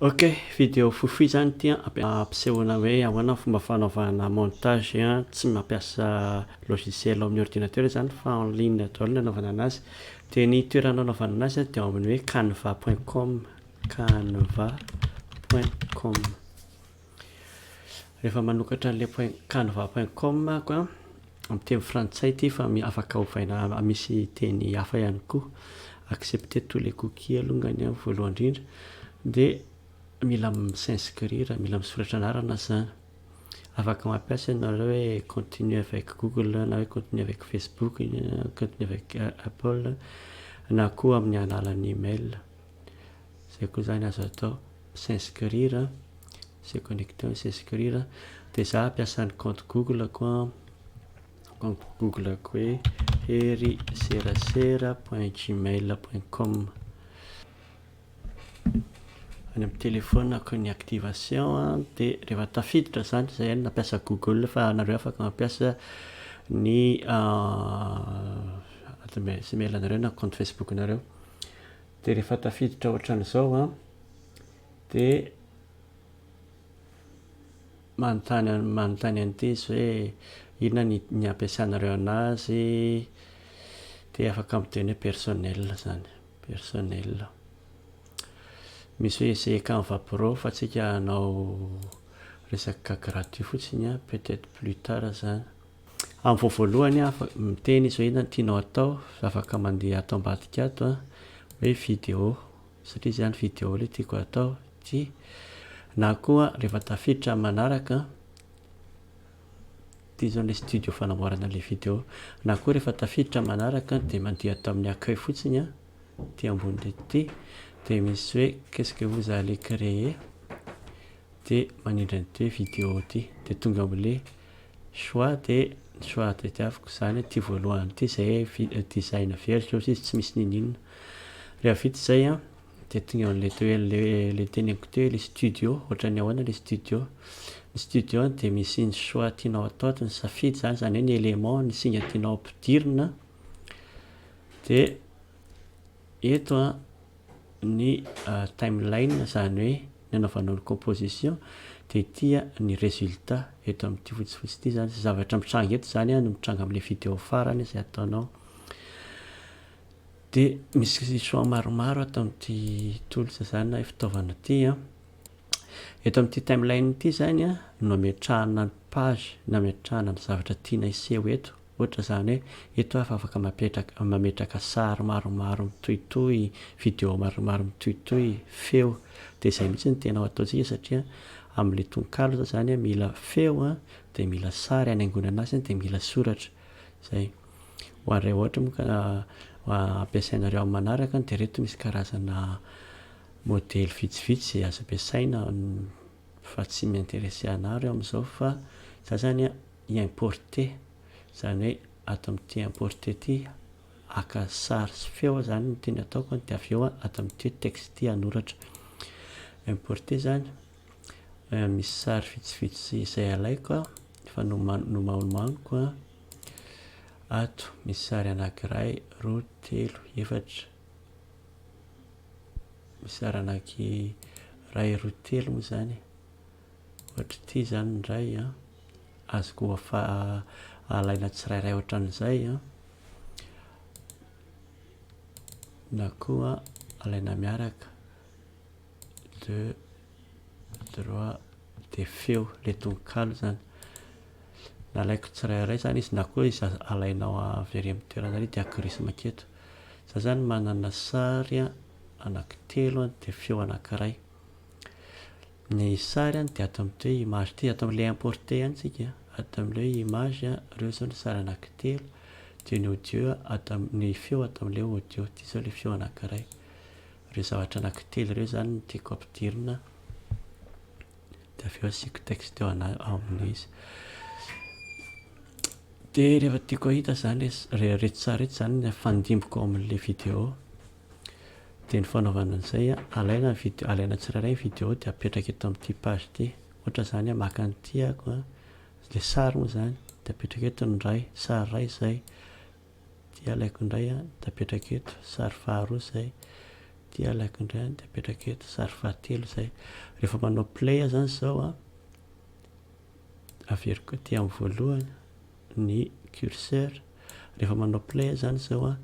Ok, vidéo foufou izany ity an, ampisehoana hoe ahoana ny fomba fanaovana montage tsy mampiasa logiciel ao amin'ny ordinateur izany fa en ligne daholo ny anaovana an'azy, dia ny toerana anaovana an'azy dia ao amin'ny hoe canva point com, canva point com. Rehefa manokatra an'ilay point canva point com aho an, amin'ny teny frantsay ity fa afaka ovaina misy teny hafa ihany koa. Accepter tous les cookies alongany an voalohany indrindra, dia mila mi-s'inscrire, mila misoratra anarana izany. Afaka mampiasa ianareo hoe continue avec google na hoe continue avec facebook, continue avec apple na koa amin'ny alalan'ny email. izay koa izany azo atao s'inscrire se connecter na s'inscrire dia za hampiasa ny compte google-ko an compte google-ko hoe heriserasera point gmail point com any amin'ny téléphone-ko ny activation an dia rehefa tafiditra izany izay no nampiasa google fa anareo afaka mampiasa ny adresse mail anareo na compte facebook-nareo Dia rehefa tafiditra ohatran'izao an, dia manontany manontany an'ity izy hoe inona ny ny ampiasanareo anazy, dia afaka miteny hoe personnel izany, personnel. Misy hoe essai canva pro fa tsika hanao resaka gratuit fotsiny an, peut-etre plus tard izany. Amin'ny vao voalohany aho afaka miteny izao inona no tianao atao, afaka mandeha ato ambadika ato an, hoe video, satria izany video ilay tiako atao, ity, na koa rehefa tafiditra amin'ny manaraka an, ity izao ilay studio fanamboarana ilay video, na koa rehefa tafiditra amin'ny manaraka dia mandeha ato amin'ny accueil fotsiny an, ity ambony ireto ity, dia misy hoe qu'est ce que vous allez créer, dia manindry an'ity hoe video ity, dia tonga amin'ilay Choix de choix tadiaviko izany ity voalohany ity izay design averiko eo sisa tsy misy ninoninona rehefa vita izay an dia tonga eo an'ilay toerana ilay teneniko teo ilay studio ohatran'ny ahoana ilay studio ny studio an dia misy ny choix tianao hatao dia ny safidy izany izany hoe ny élément ny singa tianao hampidirina dia eto an ny timeline izany hoe ny anaovanao ny composition dia ity ny résultat eto amin'ity fotsifotsy ity izany izay zavatra mitranga eto izany no mitranga amin'ilay vidéo farany izay ataonao dia misy choix maromaro ato amin'ity tools izany na fitaovana ity eto amin'ity timeline ity izany no ametrahana ny page na ametrahana ny zavatra tiana hiseho eto Ohatra izany hoe eto aho fa afaka mapetraka, mametraka sary maromaro mitohitohy, video maromaro mitohitohy, feo. Dia izay mihitsy no tena ataontsika satria amin'ilay tononkalo izao izany mila feo an, dia mila sary hanaingoana anazy an, dia mila soratra. Izay. Ho an'ireo ohatra moa ka ampiasainareo amin'ny manaraka dia ireto misy karazana modely vitsivitsy izay azo ampiasaina fa tsy mi-interesser anah reo amin'izao fa za izany an, importer izany hoe ato amin'ity importer ity haka sary sy feo aho izany no tiany ataoko an, dia avy eo aho ato amin'ity texte ity hanoratra. Importer izany, misy sary vitsivitsy izay alaiko aho, efa noma- nomaonomaniko an, ato misy sary anankiray, roa, telo, efatra, misy sary anankiray, roa, telo moa izany e. Ohatr'ity izany indray an, azoko afa alaina tsirairay ohatran'izay an, na koa alaina miaraka le droit de feo, le tononkalo izany, na alaiko tsirairay izany izy na koa izy alainao avy ary amin'ny toerana ary dia akorisi maketo, za izany manana sary anaky telo dia feo anakiray. Ny sary dia ato amin'ity hoe image ity, ato amin'ilay importer ihany isika, ato amin'ilay hoe image ireo izao ny sary anankitelo, dia ny audio ato amin'ny, ny feo ato amin'ilay audio, ity izao ilay feo anankiray. Ireo zavatra anankitelo ireo izany no tiako ampidirina, dia avy eo asiako texte eo amin'ny izy. Dia rehefa tiako hahita izany ilay, ireto sary ireto izany no afandimbiko ao amin'ilay video. Dia ny fanaovana an'izay, alaina ny vidéo, alaina tsirairay ny vidéo dia apetraka eto amin'ity page ity. Ohatra izany hoe maka ny tiako, ilay sary moa izany, dia apetraka eto ny iray, sary iray izay. Dia alaiko indray an, dia apetraka eto, sary faharoa izay. Dia alaiko indray an, dia apetraka eto, sary fahatelo izay. Rehefa manao play aho izany izao an, averiko aty amin'ny voalohany. ny curseur, rehefa manao play zany zao an,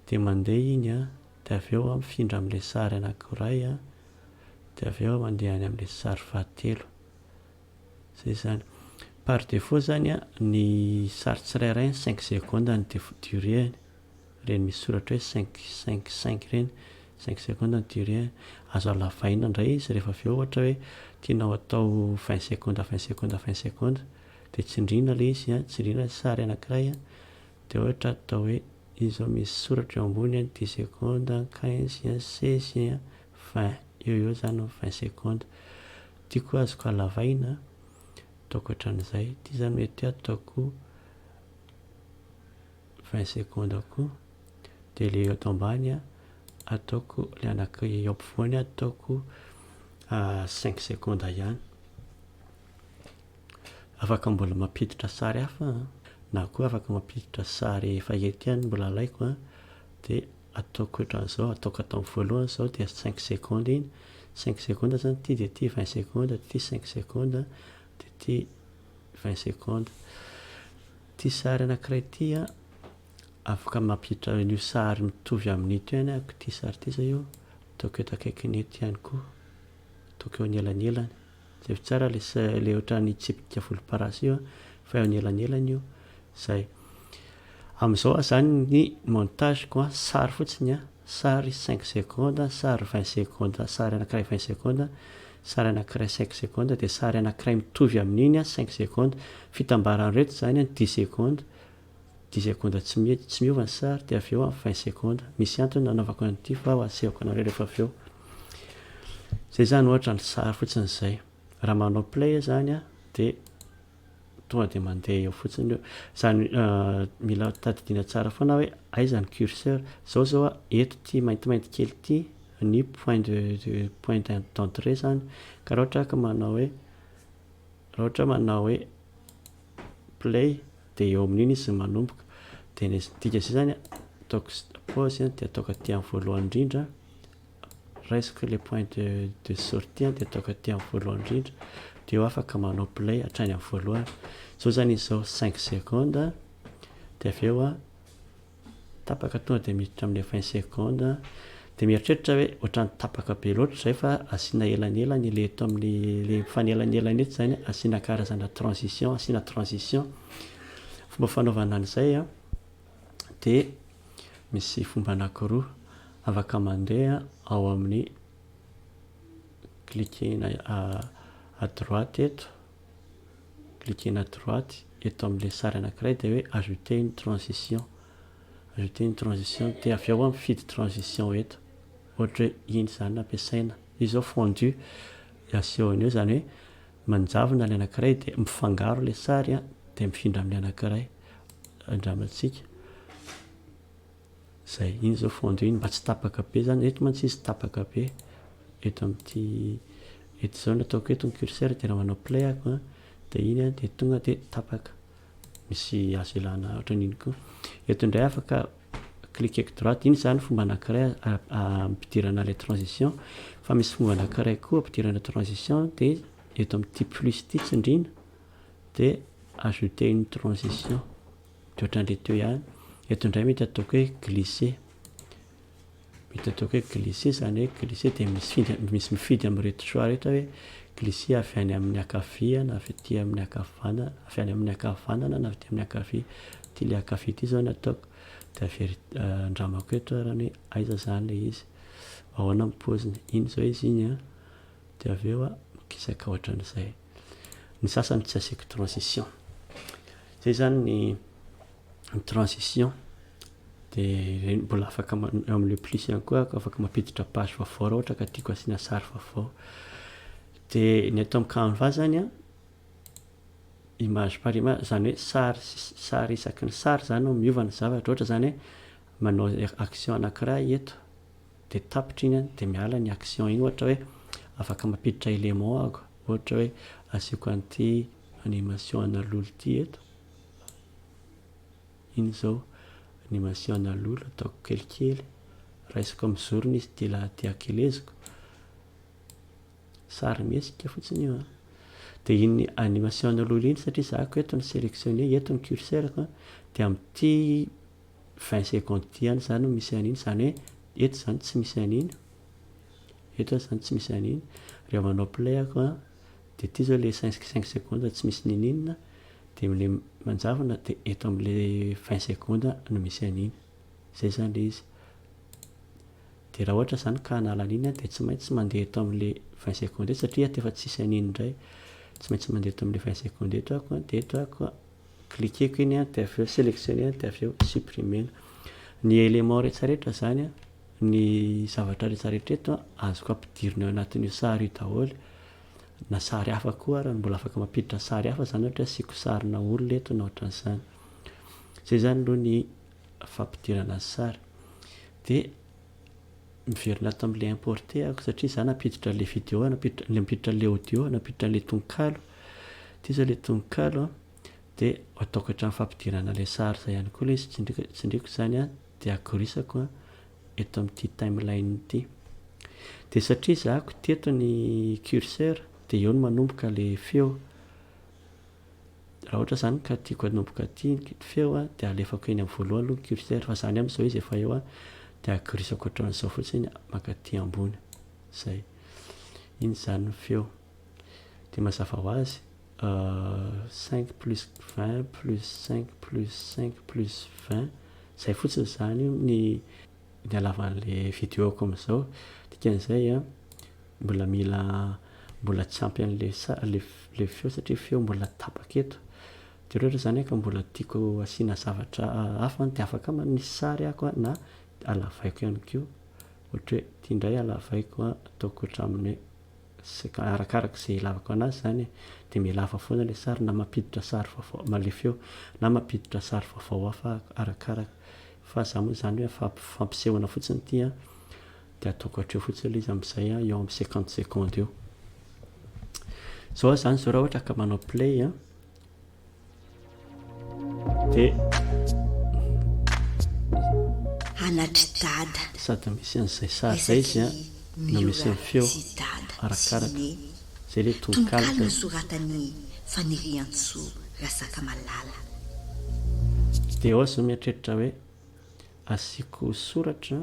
dia mandeha iny an, dia avy eo an mifindra amin'ilay sary anankiray an, dia avy eo mandeha any amin'ilay sary fahatelo, zay izany. Par défaut zany an, ny sary tsirairay an cinq secondes ny durée-ny, ireny misy soratra hoe cinq, cinq, cinq ireny, cinq secondes ny durée-ny. Azo halavaina indray izy rehefa avy eo ohatra hoe tianao atao vingt secondes, vingt secondes, vingt secondes. Dia tsindriana ilay izy an, tsindriana ilay sary anankiray an, dia ohatra atao hoe izy izao misy soratra eo ambony an, dix secondes an, quinze an, seize an, vingt, eo ho eo izany ny vingt secondes. Ity koa azoko halavaina an, ataoko hatramin'izay. Ity izany mety hoe ataoko vingt secondes koa. Dia ilay eto ambany an, ataoko ilay anankiray eo ampovoany an, ataoko cinq secondes ihany. Afaka mbola mampiditra sary hafa na koa afaka mampiditra sary efa eto ihany mbola alaiko a dia ataoko ohatran'izao ataoko ataony voalohany izao dia cinq secondes iny cinq secondes izany ity dia ity vingt secondes dia ity cinq secondes dia ity vingt secondes ity sary anankiray ity a afaka mampiditra an'io sary mitovy amin'ito ihany ako ity sary ity izao io ataoko eto akaikin'eto ihany koa ataoko eo anelanelan Jereo tsara le le ohatran'ny tsipika volomparasy io an, fa eo anelanelany io zay. Amin'izao aho zany ny montage ko an, sary fotsiny an, sary cinq secondes, sary vingt secondes, sary anakiray vingt secondes, sary anakiray cinq secondes, dia sary anakiray mitovy amin'iny an cinq secondes, fitambaran'ireto zany an dix secondes, dix secondes tsy mety, tsy miova ny sary, dia avy eo amin'ny vingt secondes, misy antony nanaovako an'ity fa ho atsehoko anareo rehefa avy eo, izay izany ohatra ny sary fotsiny izay, raha manao play aho izany an, dia tonga dia mandeha eo fotsiny io, izany mila tadidiana tsara foana hoe aiza ny curseur, izao izao an, eto ity maintimainty kely ity ny point de de point d'entrée izany, ka raha ohatra aho ka manao hoe, raha ohatra aho manao hoe play. dia eo amin'iny izy no manomboka dia ny dika izay izany ataoko pause dia ataoko aty amin'ny voalohany indrindra raisiko ilay point de, de sortie dia ataoko aty amin'ny voalohany indrindra dia eo afaka manao play hatrany amin'ny voalohany izao izany izao 5 secondes dia avy eo a Tapaka tonga dia miditra amin'ny vingt secondes dia mieritreritra aho hoe ohatran'ny tapaka be loatra izay fa asiana elanelany ilay eto amin'ny ilay mifanelanelana eto izany asiana karazana transition asiana transition fomba fanaovana an'izay an dia misy fomba anakiroa afaka mandeha ao amin'ny cliquer-na à droite eto cliquer-na à droite eto amin'ilay sary anankiray dia hoe ajouter une transition, ajouter une transition dia avy ao aho mifidy transition eto, ohatra hoe iny izany no ampiasaina, io izao fondu dia asehony eo izany hoe manjavona ilay anankiray dia mifangaro ilay sary dia mifindra amin'ilay anankiray, andramantsika. Zay, iny zao fondue iny mba tsy tapaka be zany, eto mantsy izy tapaka be, eto amin'ity, eto izao ny ataoko eto ny curseur dia raha manao play aho an, dia iny an, dia tonga dia tapaka, misy azo ilana ohatran'iny koa, eto indray afaka cliqueko droite, iny zany fomba anakiray ampidirana ilay transition, fa misy fomba anakiray koa ampidirana transition dia eto amin'ity plus ity tsindriana dia ajouter une transition. Dia ohatran'ilay teo ihany. Eto indray mety ataoko hoe glisser. Mety ataoko hoe glisser izany hoe glisser dia misy misy mifidy amin'ireto choix ireto hoe glisser avy any amin'ny ankavia na avy aty amin'ny ankavanana, avy any amin'ny ankavanana na avy aty amin'ny ankavia. Ity ilay ankavia ity izao no ataoko. Dia averi- andramako eto ary ny hoe aiza izany ilay izy. Ahoana ny paoziny. Iny izao izy iny an. Dia avy eo an, mikisaka ohatran'izay. Ny sasany tsy asiako transition. Zay zany ny ny transition dia ireny mbola afaka ma- eo amin'ilay plus ihany koa aho afaka mampiditra page vaovao raha ohatra ka tiako asiana sary vaovao. Dia ny ato amin'ny canva zany an, image par image, izany hoe sary s- sary isaky ny sary izany no miova ny zavatra. Ohatra izany hoe manao action anankiray eto. dia tapitra iny dia miala ny action iny ohatra hoe afaka mampiditra élément aho ohatra hoe asiako an'ity animation ana lolo ity eto iny zao animation ana lolo ataoko kelikely raisiko amin'ny zorony izy ity lahy ity akeleziko sarimihetsika fotsiny io an dia iny animation ana lolo iny satria zahako eto ny sélectionner eto ny curseur-ko dia amin'ity vingt secondes ity any zany no misy an'iny, zany hoe eto zany tsy misy an'iny, eto zany tsy misy an'iny, rehefa manao play aho an, dia ity zao le cinq cinq secondes tsy misy niniana, dia amle manjavona dia eto amle vingt secondes no misy an'iny, zay zany le izy, dia raha ohatra zany ka hanala an'iny aho dia tsy maintsy mandeha eto amle vingt secondes eto satria ato efa tsisy an'iny ndray, tsy maintsy mandeha eto amle vingt secondes eto aho, dia eto aho. Cliquer-ko iny dia avy eo selectionner dia avy eo supprimer. Ny éléments rehetrarehetra izany, ny zavatra rehetrarehetra eto azoko ampidirina ao anatin'io sary io daholo, na sary hafa koa ary mbola afaka mampiditra sary hafa izany ohatra hoe asiako sarina olona eto na ohatran'izany. Izay izany aloha ny fampidirana sary. Dia miverina ato amin'ilay importé ako satria za nampiditra an'ilay video nampiditra nampiditra an'ilay audio nampiditra an'ilay tononkalo ity zao ilay tononkalo a dia ataoko hatramin'ny fampidirana ilay sary izay ihany koa ilay izy tsindriko tsindriko izany a dia akorisako a eto amin'ity timeline ity dia satria zahako teto ny curseur dia eo no manomboka ilay feo Raha ohatra izany ka tiako hanomboka aty ny feo a, dia alefako eny amin'ny voalohany aloha ny curseur, fa izany amin'izao izy efa eo a, dia agirisako hatramin'izao fotsiny mankaty ambony. Izay. Iny izany ny feo. Dia mazava ho azy, cinq plus vingt plus cinq plus cinq plus vingt, izay fotsiny izany ny. ny halavan'le video-ko amzao dikan'izay a mbola mila mbola tsy ampy an'le le feo satria feo mbola tapaka eto de rehetra zany ka mbola tiako asiana zavatra hafa de afaka manao sary ako a na alavaiko ihany ko ohatra hoe ty ndray alavaiko a ataoko hatramin'ny hoe arakaraka ze ilavako anazy zany e de milava foana le sary na mampiditra sary vaovao na le feo na mampiditra sary vaovao hafa arakaraka Fa za moa zany hoe fa fampisehoana fotsiny ity a, de ataoko hatreo fotsiny le izy amzay a, eo am cinquante secondes eo. Zao zany zao raha ohatra ka manao play a, de. Anatry dada. Sady misy anzay sary zay izy a, no misy ny feo, arakaraka. Zay le tononkalo nosoratan'i Faniriantsoa Razakamalala. Dia ao aza mieritreritra hoe asiako soratra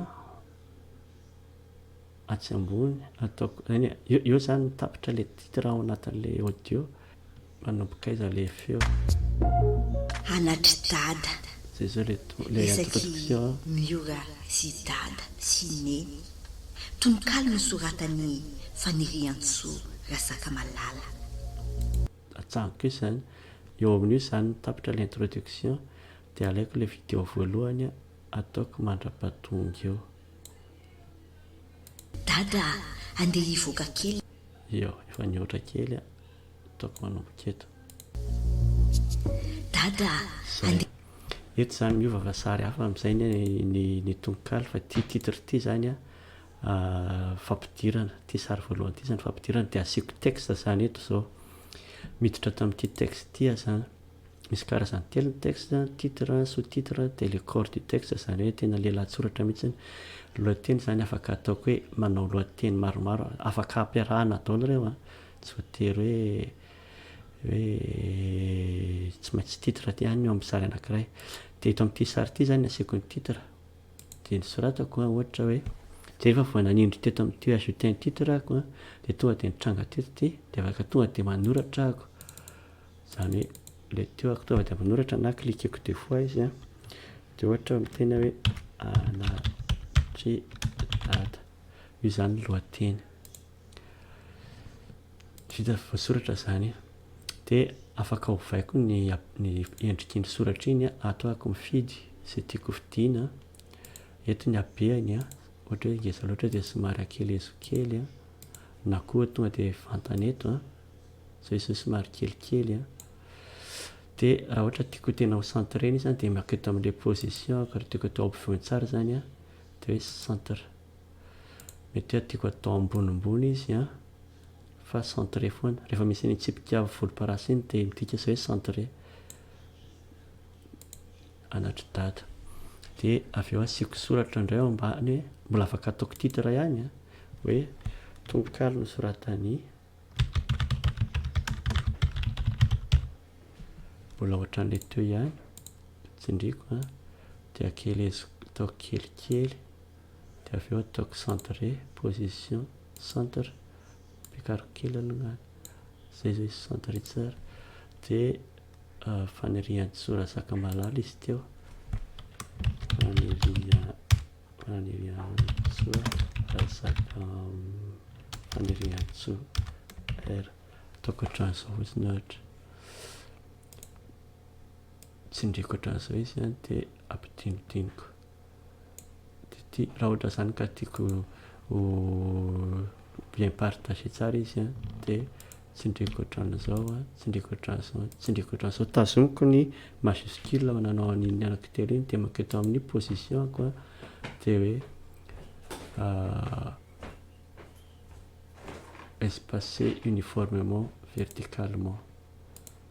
atsy ambony ataoko, eny e, eo zany ny tapitra le titre ao anatin'ilay audio. Manomboka aiza le feo? Anatry dada. Zay zao le to le introduction a. Isaky Miora sy dada sy neny. Tononkalo nosoratan'i Faniriantsoa Rasakamalala. Atsahako eo izany. Eo amin'io izany ny tapitra le introduction dia alaiko le video voalohany ataoko mandrapatonga eo. Dada a! Andeha hivoaka kely. Eo, efa nihoatra kely a. ataoko manomboka eto. Dada ande. Eto izany miova fa sary hafa amin'izay ny tononkalo fa ity titre ity izany a fampidirana ity sary voalohany ity izany fampidirana dia asiako texte izany eto izao miditra tamin'ity texte ity aho izany misy karazany telo ny texte titre sous titre dia le corps du texte izany hoe tena lelan-tsoratra mihitsy ny lohateny izany afaka ataoko hoe manao lohateny maromaro afaka ampiarahana daholo ireo a. Tsy voatery hoe hoe tsy maintsy titre ihany ny eo amin'ny sary anankiray. Dia eto amin'ity sary ity izany ny asiako ny titre dia nosoratako an, ohatra hoe, dia rehefa vao nanindry teto amin'ity ajouter un titre aho an, dia tonga dia nitranga teto ity, dia afaka tonga dia manoratra aho. Izany hoe ilay teo aho tonga dia manoratra na cliqueko deux fois izy an, dia ohatra miteny aho hoe Anatridada. Io izany ny lohateny. Vita voasoratra izany an! Dia afaka ovaiko ny endriky ny soratra iny an! Ato aho mifidy izay tiako hofidiana an! Eto ny habeany an! Ohatra hoe ngeza loatra dia somary ankelezo kely an! Na koa tonga dia vantany eto an! Izao izy izao somary kelikely an! Dia raha ohatra tiako tena ho centre-na izy an! Dia makety amin'ilay position-ko raha tiako atao ampovoany tsara izany an! Dia hoe centre. Mety hoe tiako atao ambonimbony izy an, fa centré foana. Rehefa misy an'iny tsipika volomparasy iny dia midika izay hoe centré. Anatry dada. Dia avy eo asiako soratra indray ao ambany hoe mbola afaka ataoko titre ihany an, hoe tononkalo nosoratan'i mbola ohatran'ilay teo ihany, tsindriako an, dia akeleziko, ataoko kelikely. dia avy eo ataoko centre position centre ampiakariko kely aloha zay zao izy centre tsara dia fanirian-tsorazaka malala izy teo fanirian-tsorazaka fanirian-tso r ataoko hatran'izao fotsiny ohatra tsindriako hatran'izao izy dia ampidinidiniko Raha ohatra izany ka tiako ho bien partager tsara izy an, dia tsindriako ohatran'izao an, tsindriako ohatran'izao an, tsindriako ohatran'izao. Tazomiko ny majuscule aho nanao an'iny anako telo iny dia mankety amin'ny position-ko an, dia hoe espacer uniformement verticalement.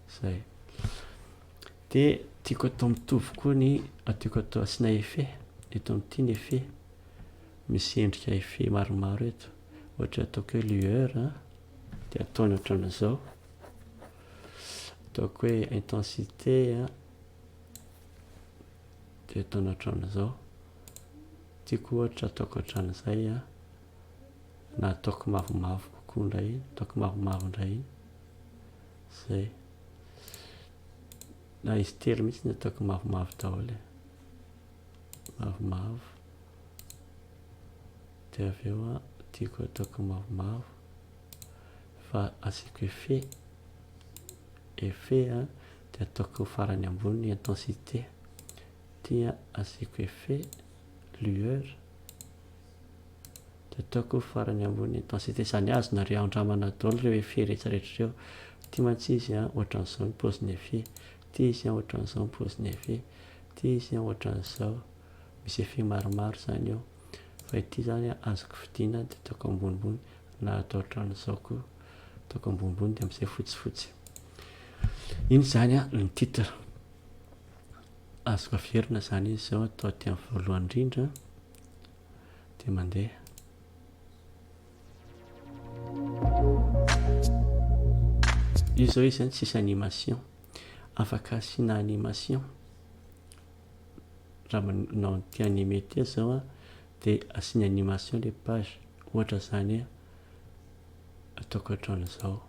Izay. Dia tiako atao mitovy koa ny tiako atao asiana effet eto amin'ity ny effet misy endrika effet maromaro eto ohatra ataoko hoe lueur dia ataony ohatran'izao ataoko hoe intensité dia ataony ohatran'izao tiako ohatra ataoko ohatran'izay na ataoko mavomavo kokoa indray ataoko mavomavo indray Zay. Na izy tery mihitsy ny ataoko mavomavo daholo e. Mavomavo. De avy eo a, tiako ataoko mavomavo. Fa asiako effet. Effet a, de ataoko farany ambony ny intensité. Ty a, asiako effet, lueur. Tataoko farany ambony intensite zany azy nareo andramana daholo reo effet rehetra rehetra reo ty mantsy izy an ohatran'izao ny pôziny effet ty izy an ohatran'izao ny pôziny effet ty izy an ohatran'izao misy effet maromaro zany eo fa ity zany an azoko fidina de ataoko ambonimbony na atao ohatran'izao ko ataoko ambonimbony de amzay fotsifotsy iny zany an ny titre azoko averina zany izy zao atao aty am voalohany indrindra dia mandeha. Io izao izy zany tsisy animation. Afaka asiana animation. Raha manao an'ity anime ity zao a, dia asiana animation le page. Ohatra zany hoe ataoko hatraan'izao.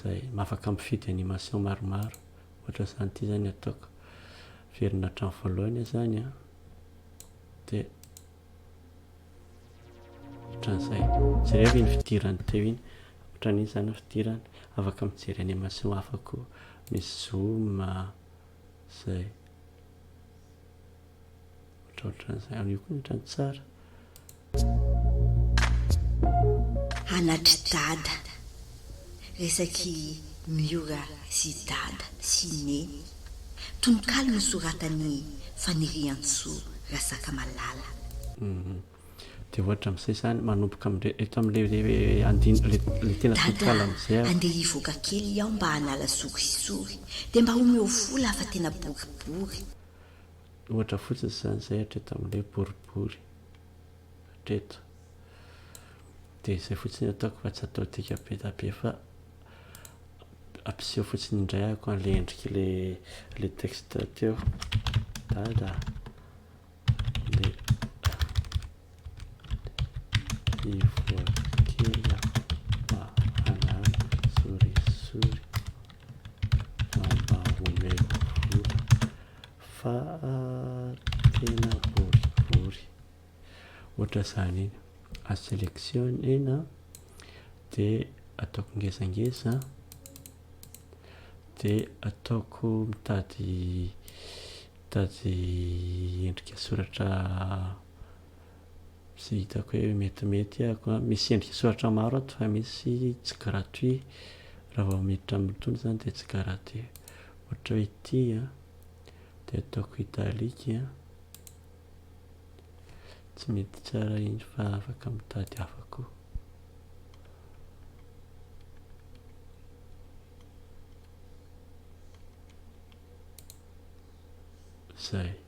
Zay, afaka mifidy animation maromaro. Ohatra zany ity zany ataoko. Averina hatramin'ny voalohany aho zany a. dia ohatran'izay jereo iny fidirany teo iny ohatran'iny zany ny fidirany afaka mijery animation hafa koa misy zoom zay ohatraohatran'izay amin'io koa ny ohatran'ny tsara Anatry dada. Resaky Miora sy dada sy neny. Tononkalo nosoratan'i Faniriantsoa Rasakamalala. Dia ohatra amin'izay izany manomboka amin'ilay eto amin'ilay andin, ilay tena tononkalo amin'izay ary. Dada a, andeha hivoaka kely aho mba hanala sokisisory dia mba omeo vola fa tena boribory. Ohatra fotsiny izany izay hatreto amin'ny hoe boribory hatreto. Dia izay fotsiny ataoko fa tsy atao dika be dia be fa ampiseho fotsiny indray ako an'ilay endriky le le texte teo. Dada. Ivoakela mahalala sorisory mba omeo vola fa tena boribory ohatra zany iny a selectionner de ataoko ngezangeza de ataoko mitady mitady endrika soratra Izay hitako hoe metimety ako an, misy endrika soratra maro ato fa misy tsy gratuit, raha vao miditra amin'itony izany dia tsy garatuit, ohatra hoe ity an, dia ataoko italique an, tsy mety tsara iny fa afaka mitady hafa koa. Zay.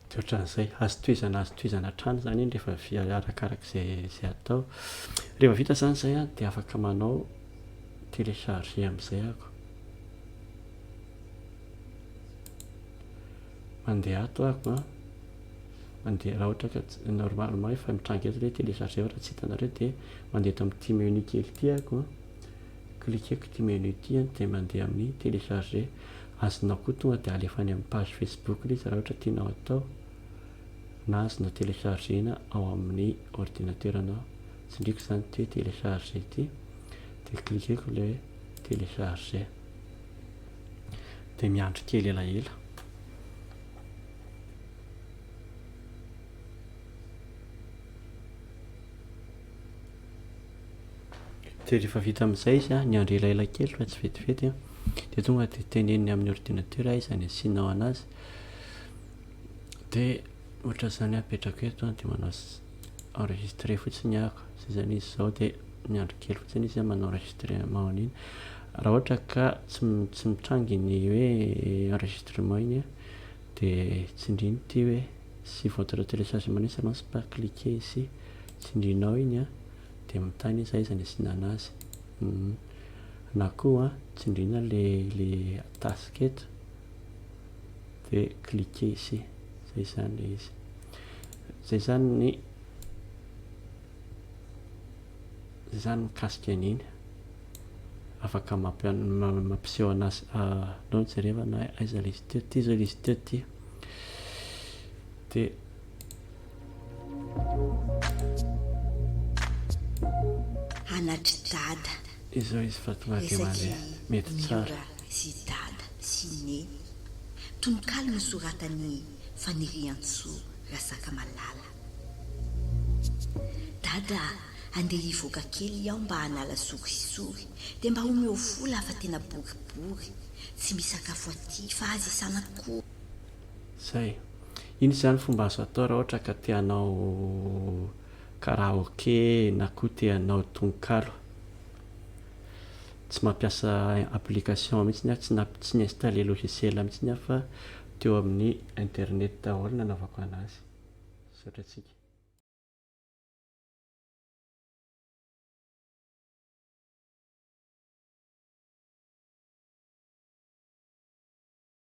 Dia ohatran'izay, azo tohizana azo tohizana hatrany izany iny rehefa vy arakaraka izay izay atao. Rehefa vita izany izay an, dia afaka manao télécharger amin'izay ako. Mandeha ato ako an. Mandeha raha ohatra ka normalement efa mitranga eto ilay télécharger raha tsy hitanareo dia mandeha eto amin'ity menu kely ity ako an. Cliquer-ko ity menu ity an dia mandeha amin'ny télécharger. azonao koa tonga dia alefa any amin'ny page Facebook ilay izy raha ohatra tianao atao na azonao telechargena ao amin'ny ordinateranao tsindriko izany ity hoe telecharge ity dia cliqueko ilay hoe telecharge dia miandry kely elaela Dia rehefa vita amin'izay izy an, niandry elaela kely fa tsy vetivety an, dia tonga dia teneniny amin'ny ordinateur izany asianao anazy, dia ohatra izany an apetrako eto an, dia manao enregistre fotsiny aho, izay izany izy izao dia miandry kely fotsiny izy an manao enregistrement an'iny, raha ohatra ka tsy tsy mitranga ny hoe enregistrement iny an, dia tsindriny ity hoe si votre téléchargement ne s'annonce pas cliquez ici. Tsindrinao iny an! Dia mitana izy aiza ny asiana anazy. Humm. Na koa tsindrina le le task eto dia cliquer ici. Zay zany le izy. Zay zany ny zay zany mikasika an'iny. Afaka mampi- mampiseho anazy aleo jereva na aiza le izy teo. Ty zao le izy teo ty. Dia. Anatry dada. Izao izy fa tonga aty Malais. Mety tsara. Miora sy dada sy neny. Tononkalo nosoratan'i Faniriantsoa Rasakamalala. Dada a, andeha hivoaka kely aho mba hanala sorisory dia mba omeo vola fa tena boribory, tsy misakafo aty fa aza isan'akory. Zay. Ino izany fomba azo atao raha ohatra ka te hanao karaoke na koa te hanao tononkalo? Tsy mampiasa application mihitsiny aho, tsy na tsy ni-installer logiciel mihitsiny aho fa teo amin'ny internet daholo no nanaovako an'azy. Misaotra antsika.